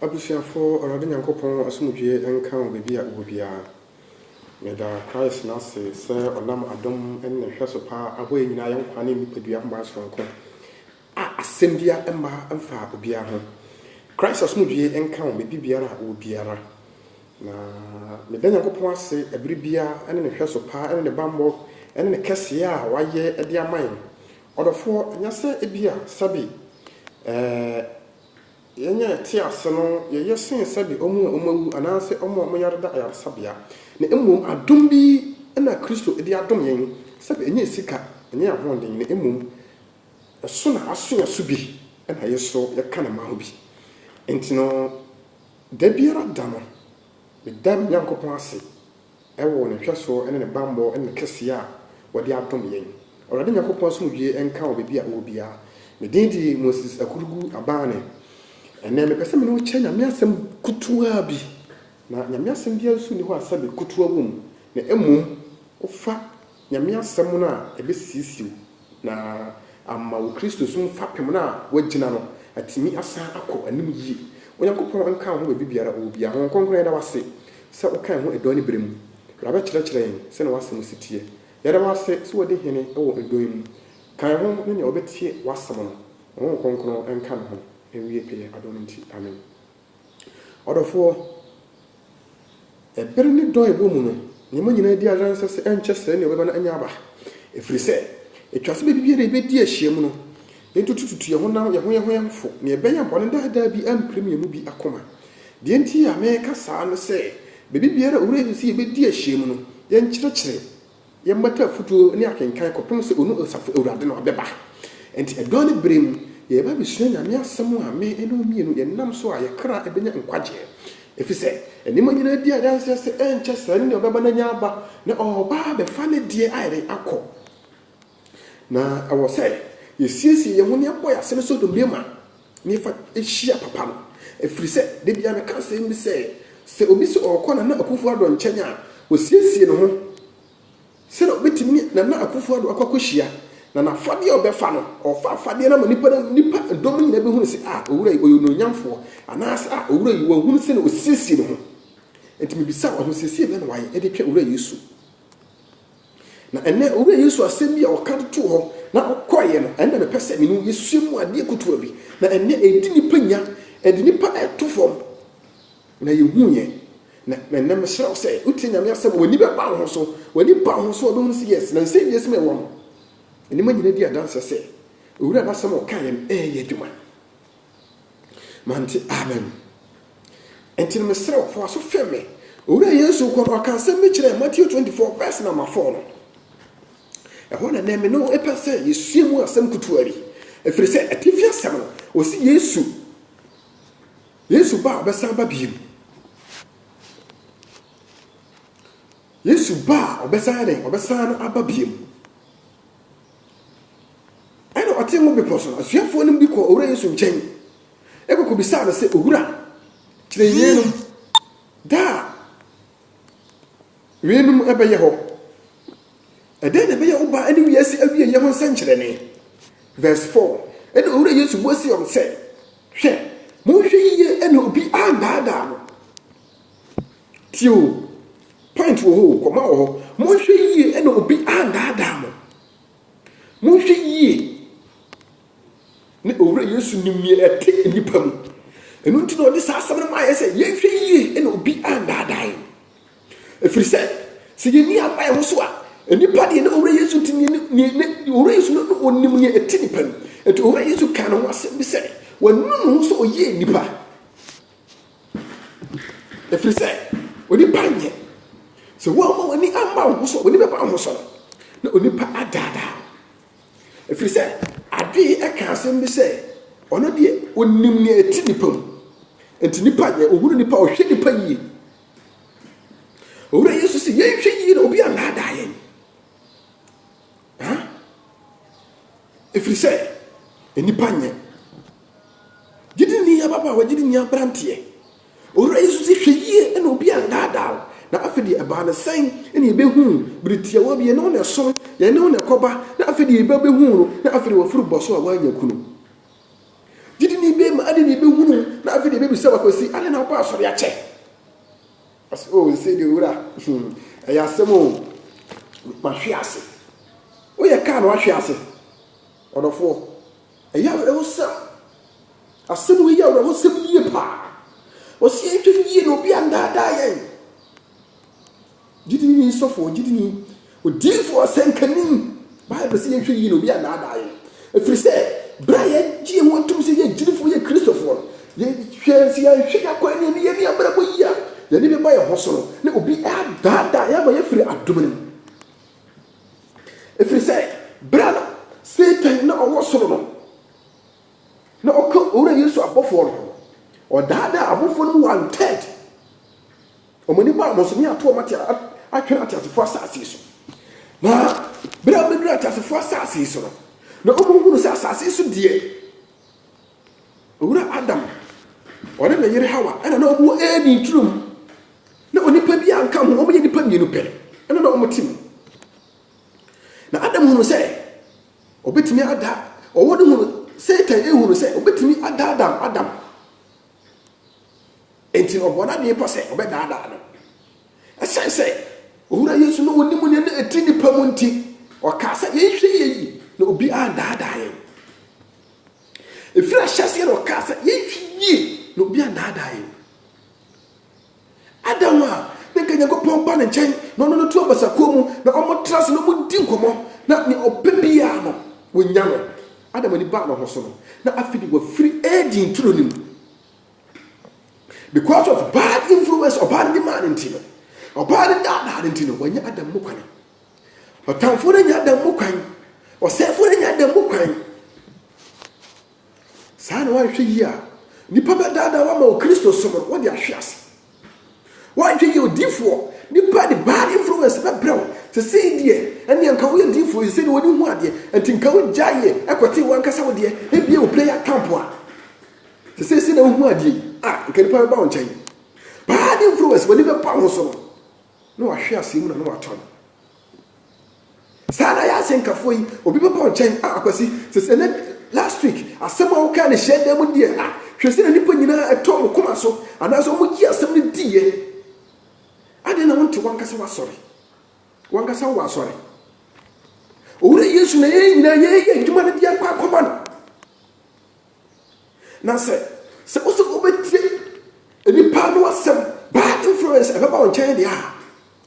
Abusuafoɔ, Awurade Nyankopɔn asomdwoeɛ nka mo baabi a wowɔ biara. Meda Christ no ase sɛ ɔnam adom ne ne nhwɛso pa abɔ yɛn nyinaa yɛn nkwa ne nnipadua nhoma sononko a asɛm biara mma mfaa obiara ho. Christ asomdwoeɛ nka wo baabi biara a wowɔ biara. Na meda Nyankopɔn ase ɛberɛ biara ne ne nhwɛso pa ne ne bammɔ ne ne kɛseɛ a wayɛ de ama yɛn. Ɔdɔfoɔ, ɛnyɛ sɛ ebia, sɛbe, eh, yɛnyɛ te ase no yɛyɛ sen sɛbe wɔn a wɔawu anaasɛ wɔn a wɔyare da ayaresabea, na mmom adom bi na Kristo de adom yɛn, sɛbe ɛnyɛ sika, ɛnyɛ ahoɔden, na mmom ɛso na aso yɛn so bi na yɛso yɛka ne mma ho bi. Enti no, da biara da no, Meda me Nyankopɔn ase wɔ ne nhwɛsoɔ ne ne bammɔ ne ne kɛseyɛ a ɔde adom yɛn. Awurade Nyankopɔn asomdwoeɛ nka wo baabi a wowɔ biara. Me din de Moses Akurugu Abane. Ɛnnɛ mepɛ sɛ me ne wo kyɛ Nyame asɛm kutuwaa bi. Na Nyame asɛm biara nso nni hɔ a sɛbe kutuwa wɔ mu, na mmom wofa Nyame Asɛm no a ɛbɛsiesie wo na ama wo Kristosom fapem no a woagyina no atumi asan akɔ anim yie. Onyankopɔn nka wo ho baabi biara ɔwɔ biara. Honhom Kronkron yɛda wo ase sɛ woka yɛn ho ɛdɔn ne berɛ mu. Bra bɛkyerɛkyerɛ yɛn sɛnea w'asɛm si teɛ. Yɛda wo ase sɛ wadi hene wɔ ɛdɔn yi mu. Ka yɛn ho ne nea ɔbɛtie w'asɛm no. Honhom Kronkron nka ne ho nwie pɛyɛ adom nti. Amen. Ɔdɔfoɔ, ɛbere ne dɔn a ɛwɔ mu no, nneɛma nyinaa adi adanse sɛ ɛnkyɛ sɛɛ nea ɔbɛba no anya aba, ɛfiri sɛ ɛtwa sɛ baabibiara a yɛbɛdi ahyiam no, yɛntutututu yɛn honam, yɛn ho yɛn ho yɛn ho fo, nea ɛbɛyɛ bɔne daadaa bi ampirim yɛn mu bi akoma. Deɛ nti a mereka saa ne sɛ, baabibiara a Owura Yesu se yɛbɛdi ahyiam no, yɛnkyerɛkyerɛ. Yɛmmata afutuo ne akenkan kɔpem sɛ onu nsafo Awurade no bɛba. Enti ɛdɔn ne berɛ mu, yɛreba abɛsua Nyame asɛm a me ne wo mmienu yɛnam so a yɛkra bɛnya nkwagyeɛ. Efisɛ nneɛma nyinaa di adanseɛ sɛ ɛnkyɛ saa no na ɔbɛba na anya aba, na ɔreba abɛfa ne deɛ ayere akɔ. Na ɛwɔ sɛ yɛsiesie yɛn ho na yɛbɔ yɛn asene so domine ma na yɛfa hyia papa no. Ɛfiri sɛ, da biara meka asɛm bi sɛ, sɛ obi sɛ ɔrekɔ Nana Akufo-Addo nkyɛn a, ɔsiesie ne ho sɛdeɛ ɔbɛtumi ne Nana Akufo-Addo akɔ akɔhyia. Na n'afadeɛ a ɔbɛfa no, ɔfa afadeɛ no ama nipa no, nipa dɔm nyinaa bɛhunu sɛ, ah, owura yi, ɔyɛ onuonyamfoɔ. Anaasɛ, ah, owura yi, wɔahunu sɛdeɛ ɔsiesie ne ho. Enti mebisa wo, ahosiesie bɛn na wayɛ de atwa Owura Yesu? Na ɛnnɛ, Owura Yesu asɛm bi a ɔka de too hɔ na ɔkɔeɛ no, ɛno na mepɛ sɛ me ne wo yɛsua mu adeɛ kutuwa bi. Na ɛnnɛ, ɛdi nnipa nya, ɛde nnipa to fam, na yɛhuuiɛ. Na ɛnnɛ mesrɛ wo sɛ, wotie Nyame asɛm a, w'ani bɛba wo ho so. W'ani ba wo ho so a, wobɛhunu sɛ yes, na nsɛnnua sima ɛwɔ no. Nneɛma nyina di adanseɛ sɛ Owura no asɛm a ɔkaeɛ no ɛɛyɛ adwuma. Mante amen. Nti no mesrɛ wo, fa w'aso fem me. Owura Yesu kɔ no, ɔka asɛm bi kyerɛ Matthew 24 verse number 4 no. Ɛhɔ na nɛ me no ɛpɛ sɛ yɛsua mu asɛm kutuwa bi. Ɛfiri sɛ atifi asɛm no, ɔsi Yesu, Yesu ba a ɔbɛsan ba bio. Yesu ba a ɔbɛsan dɛn, ɔbɛsan aba bio. Ɛnna ɔtee ngo bepɔ so. Asuafoɔ no bi kɔɔ Owura Yesu nkyɛn kɔkɔbisaa no sɛ, Owura, kyerɛ yeinom da a weinom bɛyɛ hɔ. Ɛdɛn na ɛbɛyɛ wo ba ne wiase awieeɛ ho nsɛnkyerɛnne? Verse 4, Ɛnna Owura Yesu bua see wɔn sɛ, Hwɛ! Monhwɛ yiye na obi annaadaa mo. Tie o, point wɔ hɔ o, kɔma wɔ hɔ. Monhwɛ yie na obi andaadaa mo. Monhwɛ yie na Owura Yesu nim nea ɛte nnipa mu. Ɛno nti na ɔde saa asɛm no maa yɛ sɛ yɛnhwɛ yie na obi andaadaa yɛn. Ɛfiri sɛ, sɛ yɛnni amma yɛn ho so a, nnipa deɛ ne Owura Yesu nti ne Owura Yesu no na ɔnim nea ɛte nnipa mu. Ɛti Owura Yesu kaa ne ho asɛm bi sɛ, wɔanu ne ho sɛ ɔyɛ nnipa. Ɛfiri sɛ onipa nyɛ. Sɛ woamma w'ani amma wo ho so a, w'ani bɛba wo ho so no, na onipa adaadaa wo. Ɛfiri sɛ adeɛ yi ɛka asɛm bi sɛ, ɔno deɛ ɔnim nea ɛte nnipa mu. Nti nnipa nyɛ, ɔhunu nnipa, ɔhwɛ nnipa yie. Owura Yesu sɛ yɛnhwɛ yie na obi annaadaa yɛn. Haa? Ɛfiri sɛ nnipa nyɛ. Gyidini ababaawa, gyidini aberanteɛ, Owura Yesu se, hwɛ yie na obi annaadaa wo. Na afei deɛ ɛbaa no sɛn? Ɛna yɛbɛhuu bere tiawa bi, yɛne wo na ɛso, yɛne wo na ɛkɔba, na afei deɛ yɛbɛbɛhuu no, na afei deɛ wafiri bɔ so a wannya kunu. Gyidini bɛma adɛn na yɛbɛhunu, na afei deɛ yɛbɛbisa wo akwasi, adɛn na wobaa asɔre akyɛ? Ɔse oh nse de wura hmm ɛyɛ asɛm oh Wahwe ase Woyɛ car na wahwe ase Ɔdɔfoɔ ɛyɛ awerɛhosɛm Asɛm wei yɛ awerɛhosɛm yie paa Ɔse yɛnhwɛ yie na obi annaadaa yɛn Gyidini sɔfoɔ gyidini Odiyifo ɔsɛnka ni. Bible se yɛnhwɛ yiye na obi annaadaa yɛn. Ɛfiri sɛ, berɛ a yɛgye ho tom sɛ yɛyɛ gyidifo, yɛ Kristofoɔ no, yɛhwɛ sɛ yɛanhwɛ yɛn akwan ne yɛn nneyɛe ne yɛn abrabɔ yie a, yɛn ani bɛba yɛn ho so no, na obi adaadaa yɛn ama yɛafiri adom no mu. Ɛfiri sɛ, berɛ a na Satan na ɔwɔ soro no, na ɔka Owura Yesu abɔfoɔ no ho no, ɔdaadaa abɔfoɔ no mu one third. Wɔn ani baa wɔn so, ne ato wɔn ate a atwɛn ateasefo asase so. Na bere a wobeduu ateasefo asase so no, na wɔhunu sɛ asase so deɛ, Owura Adam, ɔne ne yere Hawa, ɛna na wɔwɔ Eden turom. Na onipa bi a nka ho, wɔyɛ nnipa mmienu pɛ, ɛna na wɔte mu. Na Adam hunu sɛ obetumi ada, ɔwɔ no hunu, Satan ehunu sɛ obetumi ada Adam, Adam. Enti ɔbɔɔ n'adwene pa sɛ ɔbɛdaadaa no. Esiane sɛ Owura Yesu na onim nea na eti nnipa mu nti, ɔkaa sɛ, Yɛnhwɛ yiye yi na obi annaadaa yɛn. Efi ahyɛse na ɔkaa sɛ, Yɛnhwɛ yiye na obi annaadaa yɛn. Adam a na nka Nyankopɔn ba ne nkyɛn na ɔne no to abasakuo mu na wɔtra ase na wɔdi nkɔmmɔ na nea ɔpɛ biara no, wɔnya no. Adam ani baa ne ho so no, na afei de wafiri Eden turo no mu. Because of bad influence, ɔbaa no demand nti no, ɔbaa no daadaa no nti no, wanya Adam mu kwan. Ɔtamfo no nya Adam mu kwan. Ɔsɛefo no nya Adam mu kwan. Saa na wahwɛ yi a, nipa bɛdaadaa wama wɔ Kristo som no, wɔde ahwe ase. W'adwen yɛ odiyifoɔ nipa de bad influence bɛbrɛ wo, sesei deɛ ɛnneɛ nka woyɛ diyifoɔ yi sesei deɛ w'ani hu adeɛ nti nka wo gyae yɛ ɛkɔtee w'ankasa wo deɛ ebia wo prayer camp a sesei sɛ na wohu adeɛ yi a nka nipa bɛba wo nkyɛn bad influence w'ani bɛba wo ho so no na wahwe aseɛ mu na na watɔ no Saa ara na yɛn asɛnkafoɔ yi, obi bɛba wo nkyɛn, ah, Akwasi, sɛ sɛ nɛ, last week, asɛm a wokaa no hyiadan mu deɛ, ah, hwɛ sɛdeɛ nnipa nyinaa ɛtɔɔ mo koma so, anaasɛ wɔyii asɛm no diiɛ. Adɛn na wonte wankasa w'asɔre? Wankasa wowɔ asɔre. Owura Yesu na yɛn nyinaa yɛyɛ adwuma no de akɔ akɔma no. Na sɛ sɛ wo sɛ wobɛtie nnipa no asɛm bad influence ɛbɛba wo nkyɛn deɛ a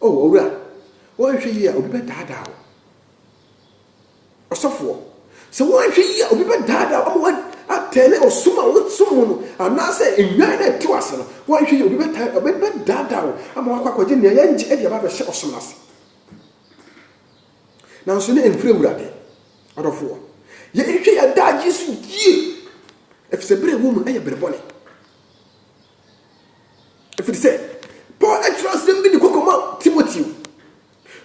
o oh, owura wɔnhwɛ yie a obi bɛdaadaa wo ɔsɔfoɔ sɛ wɔnhwɛ yie a obi bɛdaadaa wo ama atɛne ɔsom a wosom mu no anaasɛ nnwan na ɛte ase no wɔnhwɛ yie obi bɛdaadaa wo ama wakɔ akɔgye nea yɛngye de aba bɛhyɛ ɔsom no ase Nanso na ɛmfiri Awurade. Adɔfoɔ, yɛnhwɛ yɛn adagyeɛ so yie, ɛfiri sɛ berɛ a ɛwɔ mu no yɛ berɛ bɔne. Ɛfiri sɛ, Paul atwerɛ asɛm bi de kɔkɔ ma Timoteo.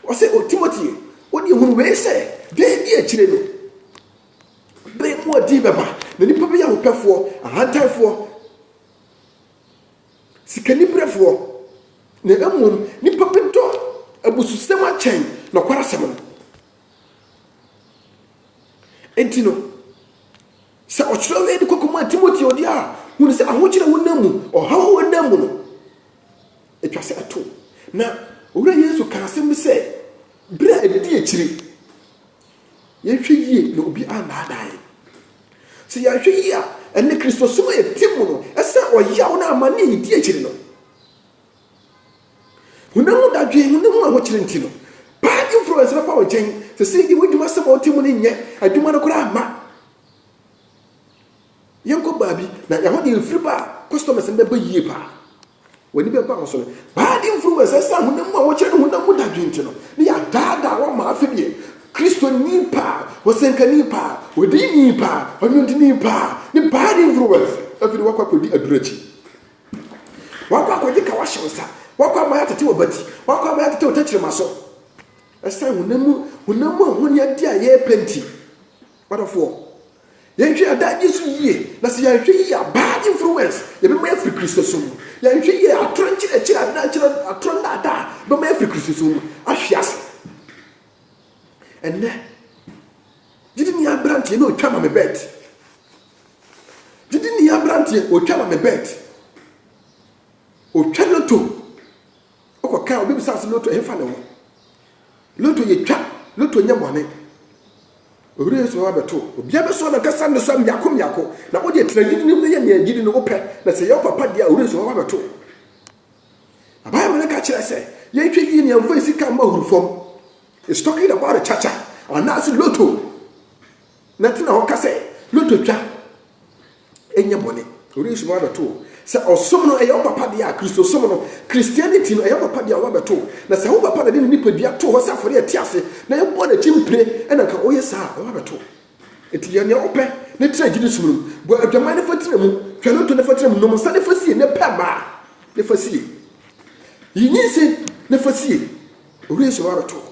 Ɔsɛ, O Timoteo, wodeɛ hunu wei sɛ, da bi akyire no, berɛ mu ɔden bɛba, na nnipa bɛyɛ ahopɛfoɔ, ahantanfoɔ, sikaniberefoɔ, na mmom nnipa bi dɔ abususɛm akyɛn nɔkwarasɛm no. Enti no, sɛ ɔkyerɛw wei de kɔkɔmaa Timoteo deɛ a, hunu sɛ ahokyerɛ honam mu, ɔhaw honam mu no, ɛtwa sɛ ɛto. Na Owura Yesu kaa asɛm bi sɛ, berɛ a ɛdi akyire, Yɛnhwɛ yie na obi annaadaa yɛn. Sɛ yɛanhwɛ yie a, ɛne Kristosom a yɛte mu no sɛ ɔyaw na amane a yɛdi akyiri no. Honam mu dadwen, honam mu ahokyere nti no, bad influence bɛpa wo nkyɛn. Sɛ sɛ yɛdi w'adwuma sɛ ma wote mu no nyɛ adwuma no koraa mma. Yɛnkɔ baabi na ɛhɔ deɛ mfiri ba a, customers no bɛba yie paa. W'ani bɛba wo so no. Baa de mfiri mu a ɛsɛ sɛ honam mu a wɔkyerɛ no honam mu dadwen nti no ne yɛadaadaa wo ama afe deɛ Kristoni pa a, ɔsɛnkani pa a, odiyini pa a, ɔnwontoni pa a, ne bad influence afi no wakɔ akɔdi aduru akyi. Wakɔ akɔgye ka wahyɛ wo nsa. Wakɔ ama yɛatete wɔ bati. Wakɔ ama yɛatete wɔ tɛkyerɛma so. Ɛsan honam mu honam mu ahonyadeɛ a yɛrepɛ nti. Wadɔfoɔ. Yɛnhwɛ adagye so yie, na sɛ yɛanhwɛ yie a, bad influence ɛbɛma yɛafiri Kristosom mu. Yɛanhwɛ yie a, atorɔ nkyerɛkyerɛ, adankyerɛ, atorɔ nnaadaa bɛma yɛafiri Kristosom mu ahwe ase. Ɛnnɛ, gyidini aberanteɛ na ɔtwa ma me bɛt. Gyidini aberanteɛ ɔtwa ma me bɛt. Ɔtwa lotto Ɔkɔkaa obi bisaa sɛ loto ɛhefa ne ho? Loto yɛ twa, loto nyɛ bɔne. Owura Yesu bɛba bɛto. Obiara bɛsɔ n'ankasa nnesoa mmiako mmiako. Na wo deɛ tena gyidi no mu na yɛ nea gyidi no wopɛ. Na sɛ ɛyɛ wo papa deɛ a, Owura Yesu bɛba bɛto. Na Bible no ka kyerɛ sɛ yɛnhwɛ yie na yɛmfa yɛn sika mma ahuru fam. It's talking about the chacha anaasɛ loto. Na tena hɔ ka sɛ, Lotto twa nyɛ bɔne. Wɔrenhyem abɛto wo. Sɛ ɔsom no, ɛyɛ wo papa deɛ a, Kristosom no, Christianity no, ɛyɛ wo papa deɛ a, woabɛto wo. Na sɛ wo papa na ɛde ne nipadua too hɔ sɛ afɔreɛ a ɛte ase, na ɛbɔɔ n'akyi mpire, ɛna anka woyɛ saa a, woabɛto wo. Enti yɛ nea wopɛ na tena gyidi som no mu. Bɔ adwaman na fa tena mu. Twa lotto na fa tena mu. Nom nsa na fa sie. Na pɛ mma na fa sie. Yi nyinsɛn na fa sie. Wɔrenhyem abɛto wo.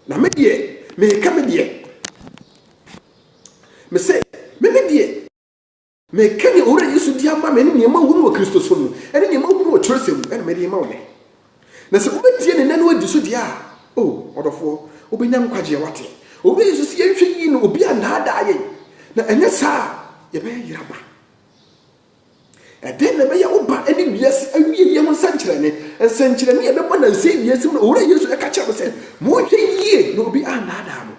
Na me deɛ, meka me deɛ. Mese, me me deɛ. Meka nea Owura Yesu de ama me ne nea mahunu wɔ Kristosom mu, ne nea mahunu wɔ Twerɛsɛm mu, ɛna mede rema wo nnɛ. Na sɛ wobɛtie ne nna no adi so deɛ a, o, ɔdɔfoɔ, wobɛnya nkwagyeɛ, woate. Owura Yesu se yɛnhwɛ yie na obi annaadaa yɛn, na ɛnyɛ saa a, yɛbɛyɛ yeraba. Ɛdeɛn na ɛbɛyɛ wo ba ne wiase awieɛ ho nsɛnkyerɛnne? Nsɛnkyerɛnne a ɛbɛbɔ nansa yi wiase mu no, Owura Yesu ɛka kyerɛ me sɛ, monhwɛ yie na obi annaadaa mo.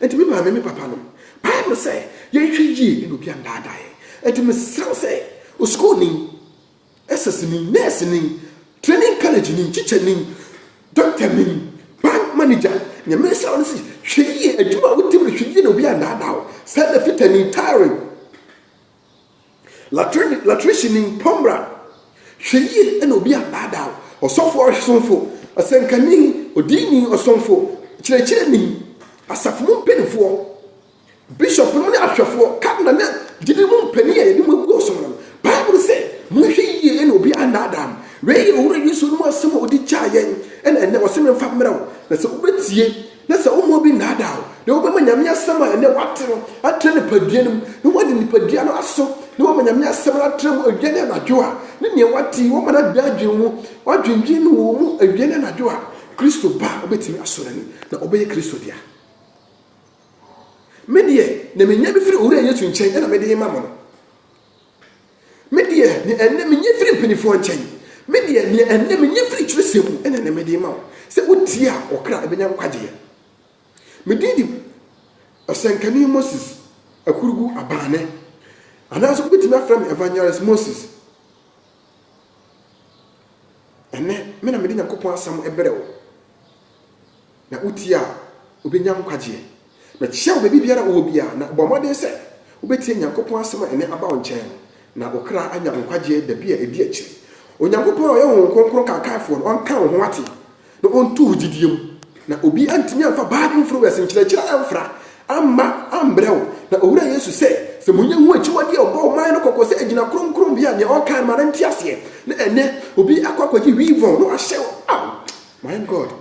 Enti me maame, me papa nom, pae me sɛ yɛnhwɛ yie na obi annaadaa yɛn. Enti mesrɛ wo sɛ, osukuuni, Ɛsɛsini, nɛɛsini, training college ni, teacher ni, doctor ni, bank manager, nyame nsa wɔn si, hwɛ yie, adwuma a wotim no hwɛ yie na obi andaadaa wo, sɛda fitani, tiring, latrine, latricini, pɔmbra, hwɛ yie na obi andaadaa wo, ɔsɔfo, ɔsomfo, ɔsɛnkani, odiini, ɔsomfo, kyerɛkyerɛni, asafo mu mpanimfoɔ. Bishop no ne ahwɛfoɔ, cardinal ne gyidie mu mpanin a yɛde mo agu ɔsom no, Bible se, Monhwɛ yie na obi annaadaa mo. Wei yɛ Owura Yesu anom asɛm a ɔde gyaa yɛn ɛna ɛnnɛ ɔse memfa mmerɛ wo, na sɛ wobɛtie na sɛ womma obi nnaadaa wo na wobɛma Nyame asɛm a ɛnnɛ woate no atra nipadua no mu na woade nipadua no aso na woama Nyame asɛm no atra mu awia ne anadwo a, ne deɛ woate yi woama no abɛ adwene mu, woadwendwene no wɔ mu awia ne anadwo a, Kristo ba a wobɛtumi asɔ n'ani na ɔbɛyɛ Kristo dea. Me deɛ, na menya bi firi Owura Yesu nkyɛn, ɛna mede rema mo no. Me deɛ, nea ɛnnɛ menya firi mpanimfoɔ nkyɛn, me deɛ, nea ɛnnɛ menya firi twerɛsɛm mu, ɛna ɛnnɛ mede rema wo, sɛ wotie a, ɔkra ɛbɛnya nkwagyeɛ. Me din de ɔsɛnkani Moses Akurugu Abane, anaasɛ wobɛtumi afrɛ me Evangelist Moses. Ɛnnɛ, me na mede Nyankopɔn asɛm brɛ wo. Na wotie a, wobɛnya nkwagyeɛ. Mɛkyea wo baabibiara a wowɔ biara, na bɔ mmɔden sɛ wobɛtie Nyankopɔn asɛm a ɛnnɛ aba wo nkyɛn no, na wo kra anya nkwagyeɛ da bi a ɛdi akyire. Onyankopɔn a ɔyɛ Honhom Kronkron Kaakaefoɔ no, ɔnka wo ho ateɛ, na ɔntu wo gyedie mu, na obi antumi amfa Bible mfrowɛs nkyerɛkyerɛ amfra amma ambrɛ wo, na Owura Yesu sɛ, sɛ monyɛ ho akyiwadeɛ a ɔbɔɔ man no kɔkɔ sɛ ɛgyina kronkronbea a nea ɔkae no ma no nte aseɛ, na ɛnnɛ obi akɔ akɔgye wii vɔn na wahyɛ wo, Aww. My God!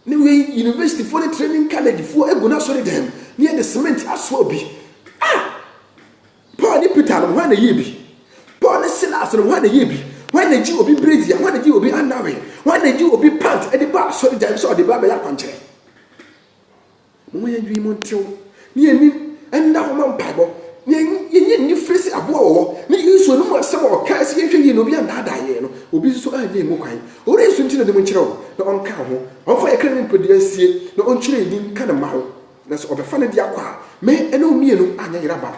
Ne wei universityfoɔ ne training collegefoɔ agu no asɔre dɛm ne yɛde cement asoa obi. Ah! Paul ne Peter no hwan na yie bi? Paul ne Silas no hwan na yie bi? Hwan na gye obi brazier? Hwan na gye obi annawe? Hwan na gye obi pant de ba asɔre dɛm sɛ ɔde ba bɛyɛ akwankyerɛ? Momma yɛn adwene mu ntew, na yɛn anim nna hɔ ma mpaebɔ, na yɛnyɛ anifere sɛ aboa wɔ hɔ, na Yesu anom asɛm a ɔkae sɛ yɛnhwɛ yiye na obi annaadaa yɛn no, obi nso annya emu kwan. Ɔwura Yesu nti na nim nkyerɛ wo, na ɔnka ho. Ɔmfa yɛn kra ne nipadua nsie, na ɔnkyerɛ yɛn din nka ne mma ho. Na sɛ ɔbɛfa ne de akɔ a, me ne wo mmienu anyɛ yeraba.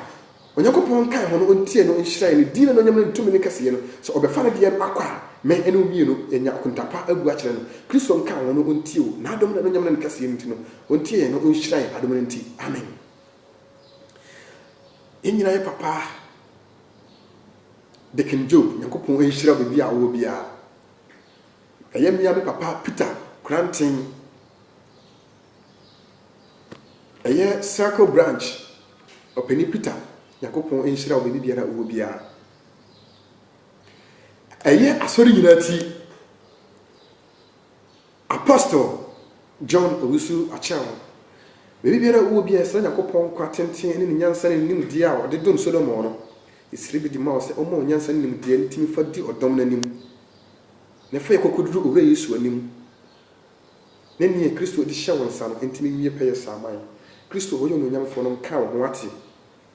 Onyankopɔn nkae hɔn ontsie no nhyerɛn, ne dzin n'enuonyam na no tum ne kɛseyɛ no, sɛ ɔbɛfa ne deɛ no akɔ a, me ne wo mmienu yɛnya akonta pa abu akyerɛ no. Kristo nkae hɔn no ontsie o, n'adom na n'enuonyam na ne kɛseyɛ no nti no, ontsie yɛn na onhyira yɛn adom no nti. Amen. Yɛn nyinaa yɛ papa Deacon Job, Nyankopɔn nhyira wo baabi a wowɔ biara. Ɛyɛ me ara me papa Peter Koranteng. Ɛyɛ Circle Branch ɔpanin Peter Nyankopɔn nhyira wo baabi biara wowɔ biara. Ɛyɛ asɔre nyinaa ti Apostle John Owusu Akyɛn baabi biara wowɔ biara srɛ Nyankopɔn nkwa tenten ne ne nyansa ne ne nimdeɛ a ɔde dom Solomon no. Yɛsrɛ bi de ma wo sɛ ɔmma wo nyansa ne nimdeɛ no tumi fa di ɔdɔm no anim na fa yɛ kɔkɔduru Owura Yesu anim ne nea Kristo de hyɛ wo nsa no ntumi nwie pɛyɛ saa mma yɛn. Kristo a ɔyɛ onuonyamfoɔ no nka wo ho ate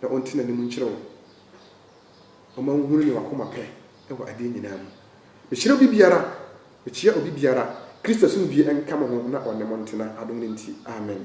na ɔnte n'anim nkyerɛ wo mma wohunu nea w'akoma pɛ wɔ adeɛ nyinaa mu. Mehyira obi biara, mekyea obi biara. Kristo asomdwie nka mo ho na ɔne mo ntena adom no nti. Amen.